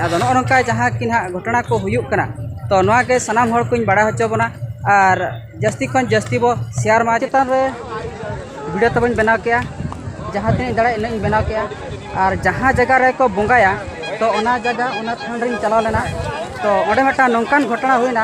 ᱟᱫᱚ ᱱᱚᱜᱼᱚ ᱱᱚᱝᱠᱟ ᱡᱟᱦᱟᱸ ᱠᱤ ᱱᱟᱦᱟᱜ ᱜᱷᱚᱴᱚᱱᱟ ᱠᱚ ᱦᱩᱭᱩᱜ ᱠᱟᱱᱟ ᱛᱚ ᱱᱚᱣᱟ ᱜᱮ ᱥᱟᱱᱟᱢ ᱦᱚᱲ ᱠᱚᱧ ᱵᱟᱲᱟᱭ ᱦᱚᱪᱚ ᱵᱚᱱᱟ ᱟᱨ ᱡᱟᱹᱥᱛᱤ ᱠᱷᱚᱱ ᱡᱟᱹᱥᱛᱤ ᱵᱚ ᱥᱮᱭᱟᱨ ᱢᱟ ᱪᱮᱛᱟᱱ ᱨᱮ ᱵᱷᱤᱰᱤᱭᱳ ᱛᱟᱵᱚᱧ ᱵᱮᱱᱟᱣ ᱠᱮᱜᱼᱟ ᱡᱟᱦᱟᱸ ᱛᱤᱱᱟᱹᱜ ᱫᱟᱲᱮᱭᱟᱜ ᱤᱱᱟᱹᱜ ᱤᱧ ᱵᱮᱱᱟᱣ ᱠᱮᱜᱼᱟ ᱟᱨ ᱡᱟᱦᱟᱸ ᱡᱟᱭᱜᱟ ᱨᱮᱠᱚ ᱵᱚᱸᱜᱟᱭᱟ ᱛᱚ ᱚᱱᱟ ᱡᱟᱭᱜᱟ ᱚᱱᱟ ᱛᱷᱟᱱ ᱨᱤᱧ ᱪᱟᱞᱟᱣ ᱞᱮᱱᱟ ᱛᱚ ᱚᱸᱰᱮ ᱢᱤᱫᱴᱟᱝ ᱱᱚᱝᱠᱟᱱ ᱜᱷᱚᱴᱚᱱᱟ ᱦᱩᱭᱱᱟ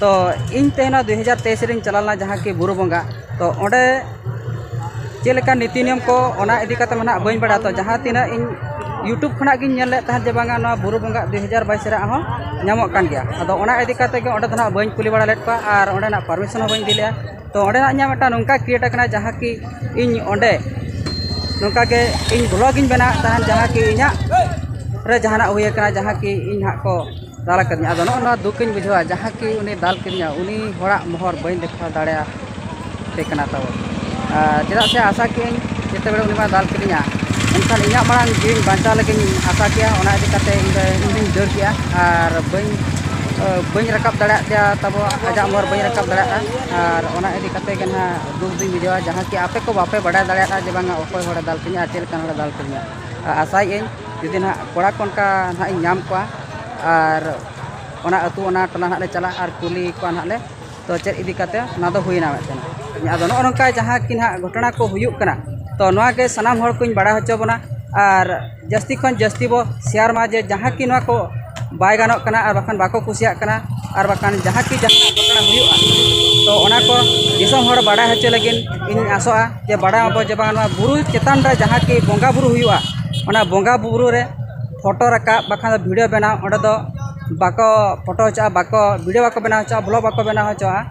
ᱛᱚ ᱤᱧ ᱛᱮ ᱱᱚᱣᱟ ᱫᱩᱭ ᱦᱟᱡᱟᱨ ᱛᱮᱭᱤᱥ ᱨᱮᱧ ᱪᱟᱞᱟᱣ ᱞᱮᱱᱟ ᱡᱟᱦᱟᱸ ᱠᱤ ᱵᱩᱨᱩ ᱵᱚᱸᱜᱟ ᱛᱚ ᱚᱸᱰᱮ ᱪᱮᱫ ᱞᱮᱠᱟ ᱱᱤᱛᱤ ᱱᱤᱭᱚᱢ ᱠᱚ ᱚᱱᱟ ᱤᱫᱤ ᱠᱟᱛᱮ ᱢᱟ ᱦᱟᱸᱜ ᱵᱟᱹᱧ ᱵᱟᱲᱟᱭᱟ ᱛᱚ ᱡᱟᱦᱟᱸ ᱛᱤᱱᱟᱹᱜ ᱤᱧ ᱤᱭᱩᱴᱩᱵᱽ ᱠᱷᱚᱱᱟᱜ ᱜᱤᱧ ᱧᱮᱞ ᱞᱮᱫ ᱛᱟᱦᱮᱸᱫ ᱡᱮ ᱵᱟᱝᱟ ᱱᱚᱣᱟ ᱵᱩᱨᱩ ᱵᱚᱸᱜᱟ ᱫᱩᱭ ᱦᱟᱡᱟᱨ ᱵᱟᱭᱤᱥ ᱨᱮᱭᱟᱜ ᱦᱚᱸ ᱧᱟᱢᱚᱜ ᱠᱟᱱ ᱜᱮᱭᱟ ᱟᱫᱚ ᱚᱱᱟ ᱤᱫᱤ ᱠᱟᱛᱮ ᱜᱮ ᱚᱸᱰᱮ ᱫᱚ ᱦᱟᱸᱜ ᱵᱟᱹᱧ ᱠᱩᱞᱤ ᱵᱟᱲᱟ ᱞᱮᱫ ᱠᱚᱣᱟ ᱟᱨ ᱚᱸᱰᱮᱱᱟᱜ ᱯᱟᱨᱢᱤᱥᱚᱱ ᱦᱚᱸ ᱵᱟᱹᱧ ᱤᱫᱤ ᱞᱮᱫᱼᱟ ᱛᱚ ᱚᱸᱰᱮᱱᱟᱜ ᱤᱧᱟᱹᱜ ᱢᱤᱫᱴᱟᱝ ᱱᱚᱝᱠᱟ ᱠᱨᱤᱭᱮᱴ ᱠᱟᱱᱟ ᱡᱟᱦᱟᱸ ᱠᱤ ᱤᱧ ᱚᱸᱰᱮ ᱱᱚᱝᱠᱟ ᱜᱮ ᱤᱧ ᱵᱷᱞᱚᱜᱽ ᱤᱧ ᱵᱮᱱᱟᱣᱮᱫ ᱛᱟᱦᱮᱱ ᱡᱟᱦᱟᱸ ᱠᱤ ᱤᱧᱟᱹᱜ ᱨᱮ ᱡᱟᱦᱟᱱᱟᱜ ᱦᱩᱭ ᱠᱟᱱᱟ ᱡᱟᱦᱟᱸ ᱠᱤ ᱤᱧ ᱦᱟᱸᱜ ᱠᱚ ᱫᱟᱞ ᱟᱠᱟᱫᱤᱧᱟ ᱟᱫᱚ ᱱᱚᱜᱼᱚ ᱱᱚᱣᱟ ᱫᱩᱠᱤᱧ ᱵᱩᱡᱷᱟᱹᱣᱟ ᱡᱟᱦᱟᱸ ᱠᱤ ᱩᱱᱤ ᱫᱟᱞ ᱠᱤᱫᱤᱧᱟ ᱩᱱᱤ ᱦᱚᱲᱟᱜ ᱢᱚᱦᱚᱨ ᱵᱟᱹᱧ ᱫᱮᱠᱷᱟᱣ ᱫᱟᱲᱮᱭᱟᱭ ᱠᱟᱱᱟ ᱛᱟᱵᱚᱱ ᱟᱨ ᱪᱮᱫᱟᱜ ᱥᱮ ᱟᱥᱟ ᱠᱮᱜ ᱟᱹᱧ ᱡᱮᱛᱮ ᱵᱮᱲᱮ ᱩᱱᱤ ᱢᱟᱭ ᱫᱟᱞ ᱠᱤᱫᱤᱧᱟ ᱮᱱᱠᱷᱟᱱ ᱤᱧᱟᱹᱜ ᱢᱟᱲᱟᱝ ᱡᱤᱣᱤᱧ ᱵᱟᱧᱪᱟᱣ ᱞᱟᱹᱜᱤᱫ ᱤᱧ ᱟᱥᱟ ᱠᱮᱭᱟ ᱚᱱᱟ ᱤᱫᱤ ᱠᱟᱛᱮᱫ ᱤᱧ ᱫᱚ ᱤᱧ ᱫᱩᱧ ᱫᱟᱹᱲ ᱠᱮᱜᱼᱟ ᱟᱨ ᱵᱟᱹᱧ ᱵᱟᱹᱧ ᱨᱟᱠᱟᱵ ᱫᱟᱲᱮᱭᱟᱜ ᱛᱟᱭᱟ ᱛᱟᱵᱚ ᱟᱡᱟᱜ ᱢᱚᱦᱚᱨ ᱵᱟᱹᱧ ᱨᱟᱠᱟᱵ ᱫᱟᱲᱮᱭᱟᱜᱼᱟ ᱟᱨ ᱚᱱᱟ ᱤᱫᱤ ᱠᱟᱛᱮᱫ ᱜᱮ ᱦᱟᱸᱜ ᱫᱩᱠ ᱫᱩᱧ ᱵᱩᱡᱷᱟᱹᱣᱟ ᱡᱟᱦᱟᱸ ᱠᱤ ᱟᱯᱮ ᱠᱚ ᱵᱟᱯᱮ ᱵᱟᱰᱟᱭ ᱫᱟᱲᱮᱭᱟᱜᱼᱟ ᱡᱮ ᱵᱟᱝᱟ ᱚᱠᱚᱭ ᱦᱚᱲᱮ ᱫᱟᱞ ᱠᱤᱫᱤᱧᱟ ᱟᱨ ᱪᱮᱫ ᱞᱮᱠᱟᱱ ᱦᱚᱲᱮ ᱫᱟᱞ ᱠᱤᱫᱤᱧᱟ ᱟᱥᱟᱭᱮᱫ ᱟᱹᱧ ᱡᱩᱫᱤ ᱱᱟᱦᱟᱜ ᱠᱚᱲᱟ ᱠᱚ ᱚᱱᱠᱟ ᱱᱟᱦᱟᱜ ᱤᱧ ᱧᱟᱢ ᱠᱚᱣᱟ ᱟᱨ ᱚᱱᱟ ᱟᱹᱛᱩ ᱚᱱᱟ ᱴᱚᱞᱟ ᱱᱟᱦᱟᱜ ᱞᱮ ᱪᱟᱞᱟᱜᱼᱟ ᱟᱨ ᱠᱩᱞᱤ ᱠᱚᱣᱟ ᱱᱟᱦᱟᱜ ᱞᱮ ᱛᱚ ᱪᱮᱫ ᱤᱫᱤ ᱠᱟᱛᱮᱫ ᱚᱱᱟ ᱫᱚ ᱦᱩᱭᱱᱟ ᱢᱤᱫᱴᱮᱱ ᱟᱫᱚ ᱱᱚᱜᱼᱚ ᱱᱚᱝᱠᱟ ᱡᱟᱦᱟᱸ ᱠᱤ ᱱᱟᱦᱟᱜ ᱜᱷᱚᱴᱚᱱᱟ ᱠᱚ ᱦᱩᱭᱩᱜ ᱠᱟᱱᱟ ᱛᱚ ᱱᱚᱣᱟ ᱜᱮ ᱥᱟᱱᱟᱢ ᱦᱚᱲ ᱠᱚᱧ ᱵᱟᱲᱟᱭ ᱦᱚᱪᱚ ᱵᱚᱱᱟ ᱟᱨ ᱡᱟᱹᱥᱛᱤ ᱠᱷᱚᱱ ᱡᱟᱹᱥᱛᱤ ᱵᱚ ᱥᱮᱭᱟᱨ ᱢᱟ ᱡᱮ ᱡᱟᱦᱟᱸ ᱠᱤ ᱱᱚᱣᱟ ᱠᱚ ᱵᱟᱭ ᱜᱟᱱᱚᱜ ᱠᱟᱱᱟ ᱟᱨ ᱵᱟᱠᱷᱟᱱ ᱵᱟᱠᱚ ᱠᱩᱥᱤᱭᱟᱜ ᱠᱟᱱᱟ ᱟᱨ ᱵᱟᱠᱷᱟᱱ ᱡᱟᱦᱟᱸ ᱠᱤ ᱡᱟᱦᱟᱸ ᱜᱷᱚᱴᱚᱱᱟ ᱦᱩᱭᱩᱜᱼᱟ ᱛᱚ ᱚᱱᱟ ᱠᱚ ᱫᱤᱥᱚᱢ ᱦᱚᱲ ᱵᱟᱲᱟᱭ ᱦᱚᱪᱚ ᱞᱟᱹᱜᱤᱫ ᱤᱧ ᱟᱥᱚᱜᱼᱟ ᱡᱮ ᱵᱟᱲᱟᱭ ᱢᱟᱵᱚᱱ ᱡᱮ ᱵᱟᱝ ᱱᱚᱣᱟ ᱵᱩᱨᱩ ᱪᱮᱛᱟᱱ ᱨᱮ ᱡᱟᱦᱟᱸ ᱠᱤ ᱵᱚᱸᱜᱟᱼᱵᱩᱨᱩ ᱦᱩᱭᱩᱜᱼᱟ ᱚᱱᱟ ᱵᱚᱸᱜᱟᱼᱵᱩᱨᱩ ᱨᱮ ᱯᱷᱳᱴᱳ ᱨᱟᱠᱟᱵ ᱵᱟᱠᱷᱟᱱ ᱫᱚ ᱵᱷᱤᱰᱤᱭᱳ ᱵᱮᱱᱟᱣ ᱚᱸᱰᱮ ᱫᱚ ᱵᱟᱠᱚ ᱯᱷᱳᱴᱳ ᱦᱚᱪᱚᱣᱟᱜᱼᱟ ᱵᱟᱠᱚ ᱵᱷᱤᱰᱤᱭᱳ ᱵᱟᱠᱚ ᱵᱮᱱᱟᱣ ᱦᱚᱪᱚᱣᱟᱜᱼᱟ ᱵᱞᱚᱜᱽ ᱵᱟᱠᱚ ᱵᱮᱱᱟᱣ ᱦᱚᱪᱚᱣᱟᱜᱼᱟ